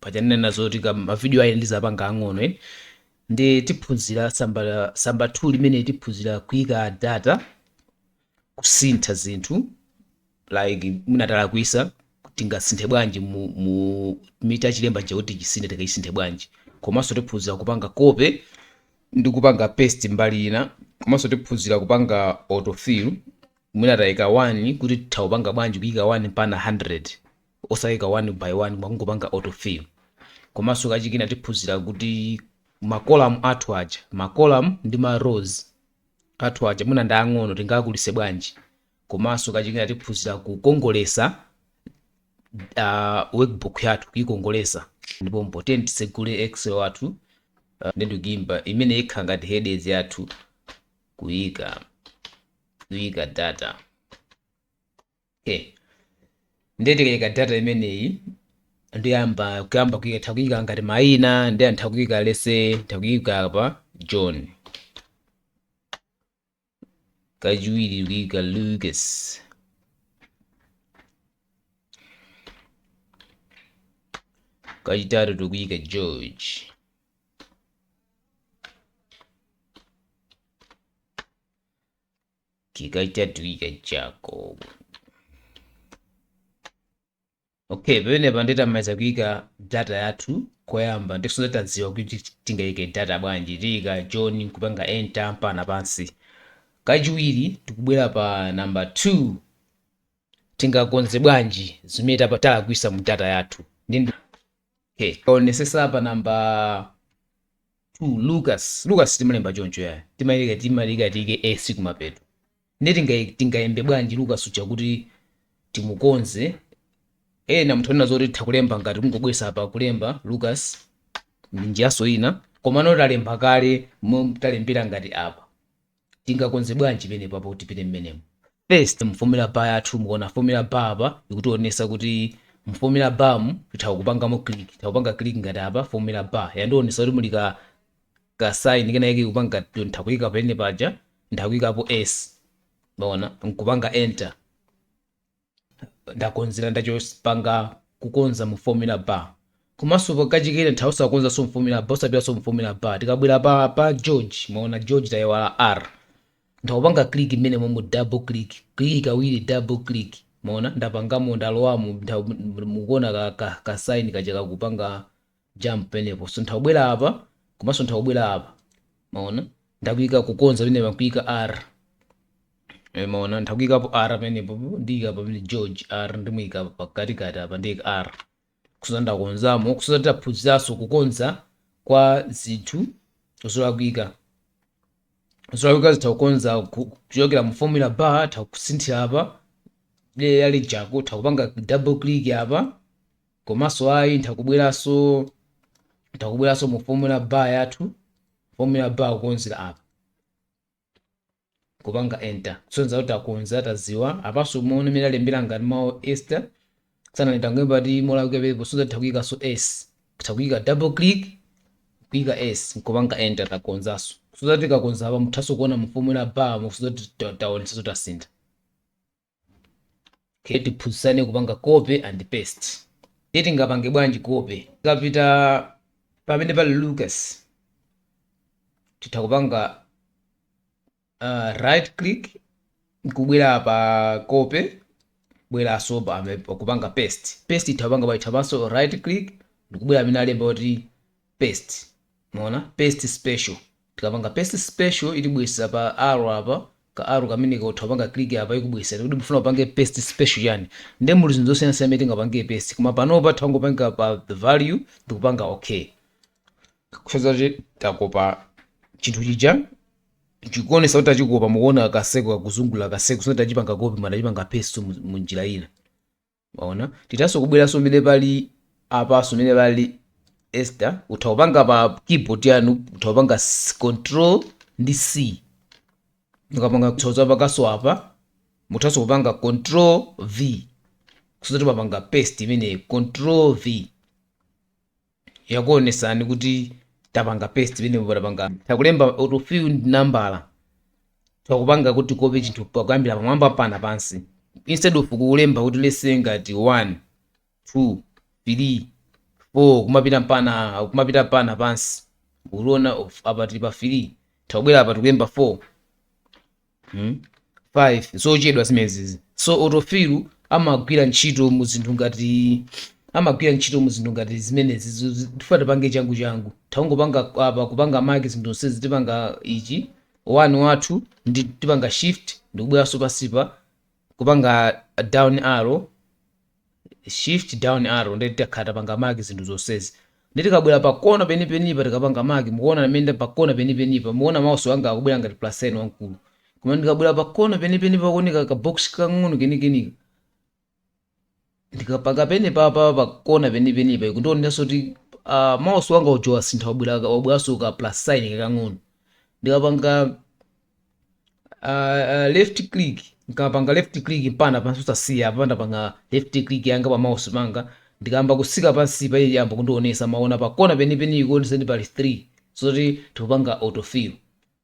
paja ndinanena zoti ka mavidiyo awa ndizapanga ang'ono eni nde tiphunzira tsamba tsamba 2 limene tiphunzira kuika data kusintha zinthu like mwina talakwisa tingasinthe bwanji mu, mu mwina chilembo chija kuti chisinthe tikaisinthe bwanji komanso tiphunzira kupanga copy ndi kupanga paste mbali ina komanso tiphunzira kupanga autofill mwina tayika 1 kuti titha kupanga bwanji kuyika 1 mpana 100 osaika one by one koma kungopanga auto fill komanso kachikena tiphunzira kuti ma column athu aja ma column ndi ma rows athu aja mwina ndi ang'ono tingakulise bwanji komanso kachikena tiphunzira kukongolesa uh, workbook yathu kuikongolesa ndiye poti tisegule excel wathu uh, nde ndikuika imene ikhala ngati headers yathu kuika kuika data Okay. Ndiye tikaika data imeneyi ndiyamba kuyamba kuika titha kuika ngati maina nde titha kuika let's say titha kuika apa John kachiwiri kuika Lucas kachitatu tikuika George kenaka taika jacob okay pamenepa nditamaliza kuika data yathu koyamba ndikusonyeza tadziwa kuti tingaike data bwanji taika john nkupanga enter mpana pansi kachiwiri tikubwera pa namba 2 tingakonze bwanji zimene tapa- talakwisa mu data yathu ndi okay tikaonesesa pa namba 2 lucas lucas timalemba choncho ayi timayenera timayenera tiike s kumapeto nde tinga- tingalembe bwanji lucas uja kuti timukonze ena mutha kunena zoti titha kulemba ngati kungobwera apa kulemba lucas ndi njiranso ina komano talemba kale momwe talembera ngati apa Tingakonze bwanji penepa poti tipite mmenemo? First mu formula bar yathu mukaona formula bar apa ikutionesa kuti mu formula bar mu titha kupangamo click titha kupanga click ngati apa formula bar yandionesa kuti muli ka ka sign kenakake kakupanga titha kuyika pene paja ntha kuyikapo s mwaona nkupanga enter ndakonzera ndachoka kupanga kukonza mu formula bar komanso pa kachikena titha osakonzanso mu formula bar osapitanso mu formula bar tikabwera pa pa george mwaona george tayiwala r ntha kupanga click mmenemomu double click click kawiri double click mwaona ndapangamo ndalowamo nda- mukuona ka, ka, ka sign kaja kakupanga jump penepo nthakubwera apa komanso nthakubwera apa mwaona ndakuika kukonza pamene pakuika r Eh, mwaona ndakuikapo r penepo ndiika pamene george r ndimuika pakatikati apa ndiika r kusonyeza ndakonzamo kusonyeza taphunziranso kukonza kwa zinthu zolakwika zolakwika zitha kukonza ku- kuchokera mu formula bar titha kusinthira apa dera lijako titha kupanga double click apa komanso ayi nthakubweranso nthakubweranso mu formula bar yathu formula bar kukonzera apa kupanga enter kusonyeza kuti takonza tadziwa apanso mwaona mmene alembera ngati mawu esther sanalembe ngati molakwika pepo kusonyeza titha kuyikanso s titha kuika double click kuika s nkupanga enter takonzanso kusonyeza kuti takonza apa muthanso kuona mu formula bar kusonyeza kuti taonetsanso tasintha okay tiphunzitsane kupanga copy and paste ndiye tingapange bwanji copy tikapita pamene pali lucas titha kupanga uh, right click nkubwera pa copy kubweranso pa pa kupanga paste paste itha kupanga pa ithanso right click ndikubwera pamene alemba kuti paste mwaona paste special tikapanga paste special itibweretsa pa arrow apa ka arrow kameneka utha kupanga click apa ikubweretsera kuti mufuna upange paste special chani nde muli zinthu zosiyana siyana imene tingapange paste koma panopa tangopanga pa the value ndikupanga okay kusonyeza kuti takopa chinthu chija chikuonesa kuti tachikopa mukuona kaseko kakuzungulira kaseko sino tachipanga copy mwaona tachipanga paste mu- mu njira ina Mwaona? Tithanso kubweranso mmene pali apanso mmene pali Esther, utha kupanga pa keyboard yanu, utha kupanga s- control ndi C. Mukapanga sonyeza panso apa, muthanso kupanga control V. Kusonyeza kuti mwapanga paste imeneyo, control V. yakuonesani kuti tapanga paste penepo patapanga titha kulemba autofill ndi nambala titha kupanga kuti tikope chinthu pakuyambira pamwamba mpaka pansi instead of kulemba kuti let's say ngati 1 2 3 4 kumapita mpaka kumapita mpaka pansi mukuona of- apa tili pa 3 titha kubwera apa tikulemba 4 hmm? 5 zochedwa zimenezi so autofill amagwira ntchito mu zinthu ngati amagwira ntchito mu zinthu ngati zimenezi zo- zi- tifuna tipange changu changu tangopanga apa kupanga mark zinthu zonsezi tipanga ichi one wathu ndi tipanga shift ndikubweranso pasipa kupanga down arrow shift down arrow ndiye tikakhala tapanga mark zinthu zonsezi ndiye tikabwera pa kona penipenipa tikapanga mark mukuona pamene pa kona penipenipa mukuona mouse wanga akubwera ngati plus n wamkulu koma ndikabwera pa kona penipenipa kuoneka ka box kakang'ono kenikenika Ndikapanga penepapa pa kona penipenipa ikundionetsanso kuti uh, mouse wanga uja wasintha wabwera wabweranso ka plus sign kakang'ono ndikapanga uh, uh, left click ndikapanga left click mpana pansi osasiya apa ndapanga left click yanga pa mouse panga ndikayamba kutsika pansi pa iyamba kundionesa maona pa kona penipeni ikuonesa kuti pali 3 zoti tikupanga autofill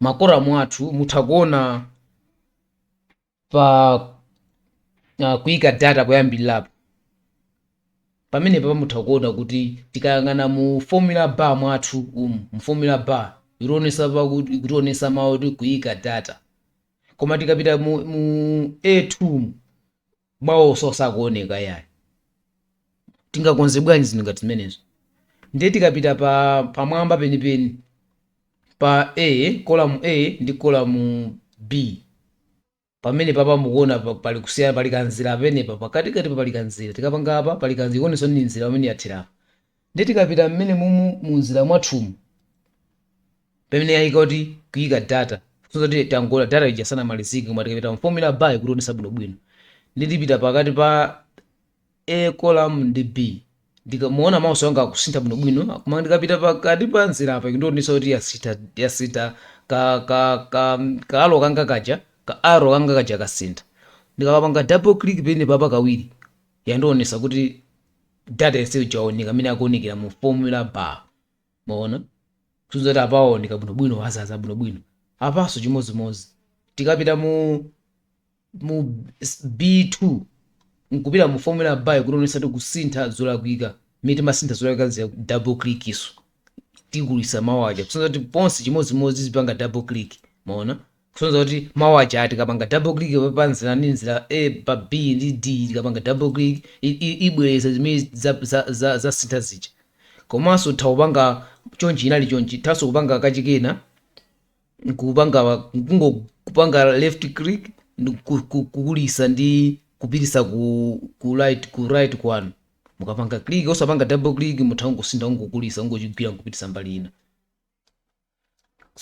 makoramu athu mutha kuona pa uh, kuika data poyambirirapo pamene papa mutha kuona kuti tikayang'ana mu formula bar mwathu umu mu formula bar itionesa ikutionesa mawu kuti kuika data koma tikapita mu, mu a2 mu mawu onse sakuoneka yayi tingakonze bwanji zinthu ngati zimenezo ndiye tikapita pa pamwamba penipeni pa a kolamu a ndi kolamu b pamene papa mukuona pa- pali kusiyana pali kanzira pamenepa pakatikati pa pali kanzira tikapanga apa pali kanzira ikuonesa ndi nzira pamene yathera apa Ndiye tikapita mmene mumu munzira mwathumu pamene yaika kuti kuika data kusonyeza kuti pangokhala data ija sanamalizike koma tikapita mu formula bar ikutionesa bwinobwino nde tipita pakati pa A column ndi B ndiye mukuona mouse wanga akusintha bwinobwino koma ndikapita pakati pa nzira apa ikundionesa kuti yasintha yasintha ka ka ka ka arrow kanga kaja ka arrow kanga kaja kasintha ndikapanga double click pene papa kawiri yandionesa kuti Data yense uja waoneka amene akuonekera mu formula bar. Mwaona? Kusonyeza kuti apa waoneka bwinobwino wazaza bwinobwino. Apanso chimodzimodzi. Tikapita mu mu s- B2 nkupita mu formula bar ikutionetsa kuti kusintha zolakwika. Mmene timasintha zolakwika zija double click so. Tikulitsa mawu aja. Kusonyeza kuti ponse chimodzimodzi tipanga double click. Mwaona? kusonyeza kuti mawu aja tikapanga double click pa- pa nzira ndi nzira a pa b ndi d tikapanga double click i- i- ibwereza zimene za- za- za- zasintha zija komanso tha kupanga chonchi inali chonchi thanso kupanga kachikena kupanga kungo kupanga left click ndi ku- ku- kukulisa ndi kupitisa ku, ku right ku right kwanu mukapanga click osapanga double click mutha kungosintha kungokulisa kungochigwira nkupitisa mbali ina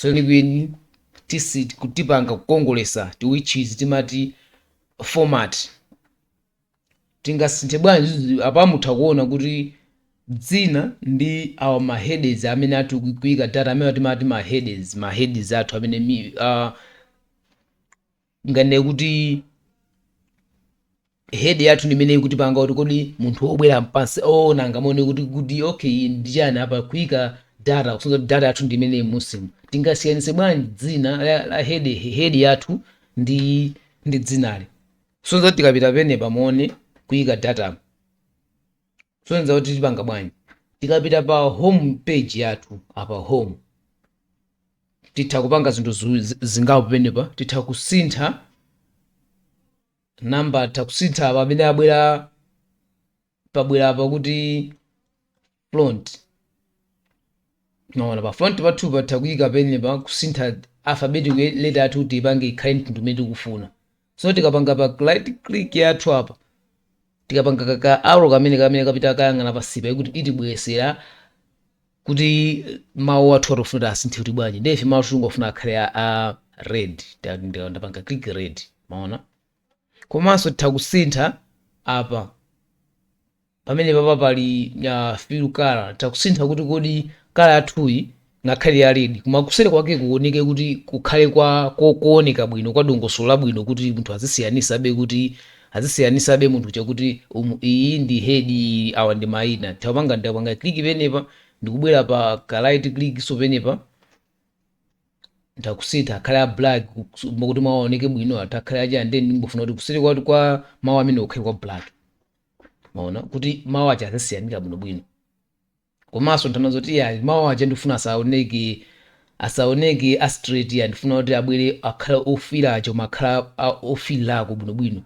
kwenikweni tisit kutipanga kukongolesa which is timati format tingasinthe bwanji zi- apa mutha kuona kuti dzina ndi awa ma headers amene athu kuika data amene timati ma headers ma headers athu amene mi, uh, nganene kuti head yathu ndi imene ikutipanga kuti kodi munthu obwera mpansi oona angamaone kuti kuti okay ndi chani apa kuika data kusonyeza kuti data yathu ndi imene musimu tingasiyanitse bwanji dzina la, la head, head yathu ndi ndi dzinali kusonyeza kuti tikapita pene pamone kuika data kusonyeza kuti tipanga bwanji tikapita pa home page yathu apa home titha kupanga zinthu zingapo penepa titha kusintha namba titha kusintha pamene abwera pabwera apa kuti front maona pa front pathu patha kuyika penepa kusintha alphabetic letter yathu kuti ipange ikhale mtundu umene tikufuna so tikapanga pa right click yathu apa tikapanga ka- ka arrow kamene kamene kapita kayang'ana pasipa ikuti itibwesera kuti mawu athu atofuna kuti asinthe kuti bwanji ndiye ife mawu athu tingofuna akhale a, a red Nda- nda- ndapanga click red maona komanso titha kusintha apa pamene papa pali a fill colour nthakusintha kuti kodi colour yathuyi ngakhale ya red koma kuseri kwake kuoneke kuti kukhale kwa ko- kooneka bwino kwa dongosolo labwino kuti munthu azisiyanisabe kuti azisiyanisabe munthu uja kuti umu iyi ndi head iyi awa ndi maina tapanga ndapanga click penepa ndikubwera pa ka right click so penepa ndakusintha akhale a black kuti mawu aoneke bwino atakhala aja and then ndingofuna kuti kuseri kwa kwa mawu amene kukhale kwa black maona kuti mawu aja azisiyanika bwinobwino komanso nthawi zoti yayi mawu aja ndifuna asaoneke asaoneke a straight ya ndifuna kuti abwere akhala ofira aja koma akhala a- ofilirako bwinobwino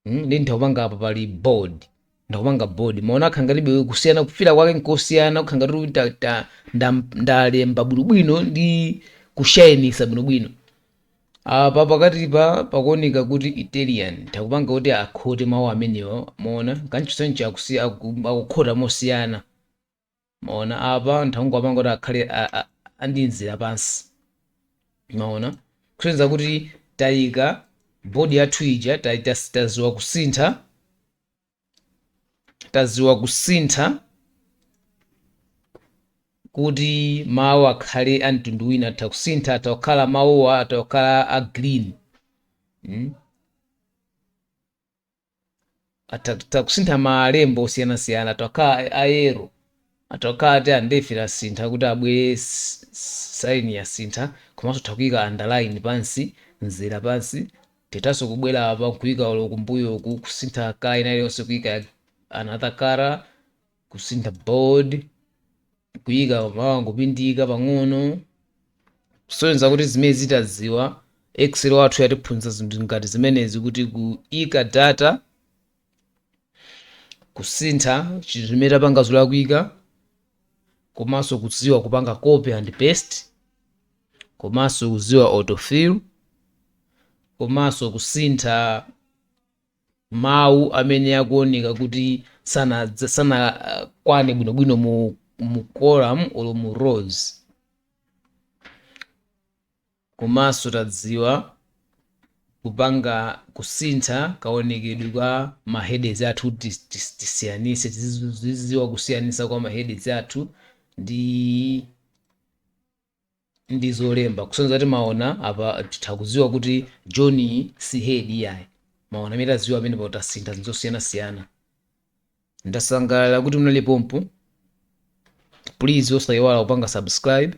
Mm, ndi ndakupanga apa pali bold ndakupanga bold maona akhala ngati bewe kusiyana kufira kwake nkosiyana kukhala ngati kuti ta- ta- nda- ndalemba bwinobwino ndi kushainisa bwinobwino Apa pakatipa pakuoneka kuti Italian nthakupanga kuti akhote mawu amenewa mwaona kancho choncho akusi akukhota mosiyana mwaona apa nthakungopanga kuti akhale a, a, a ndi mzera pansi mwaona kusonyeza kuti taika bold yathu ija ta- ta- taziwa kusintha taziwa kusintha kuti mawu akhale a mtundu wina atha kusintha atha kukhala mawuwa atha kukhala a green mm? atha atha kusintha malembo osiyanasiyana atha kukhala a yellow Atakhala ati undefined tasintha kuti abwere sign yasintha komanso tha kuika underline pansi mzera pansi tithanso kubwera apa nkuika olo kumbuyoku kusintha color ina iliyonse kuika another color kusintha bold kuika mawu angopindika pang'ono kusonyeza kuti zimene tadziwa excel wathu yatiphunzitsa zinthu ngati zimenezi kuti kuika data kusintha chinthu chimene tapanga zolakwika komanso kudziwa kupanga copy and paste komanso kudziwa autofill komanso kusintha mawu amene akuoneka kuti sanadza- sanakwane bwinobwino mu, mu column olo mu rows Komanso tadziwa kupanga kusintha kaonekedwe kwa ma headers athu kuti tisiyanitse, tizidziwa kusiyanitsa kwa ma headers athu ndi zolemba kusonyeza kuti maona apa titha kudziwa kuti John si head iyayi maona amene tadziwa apa tasintha zinthu zosiyanasiyana ndasangalala kuti munali pompo please osayiwala kupanga subscribe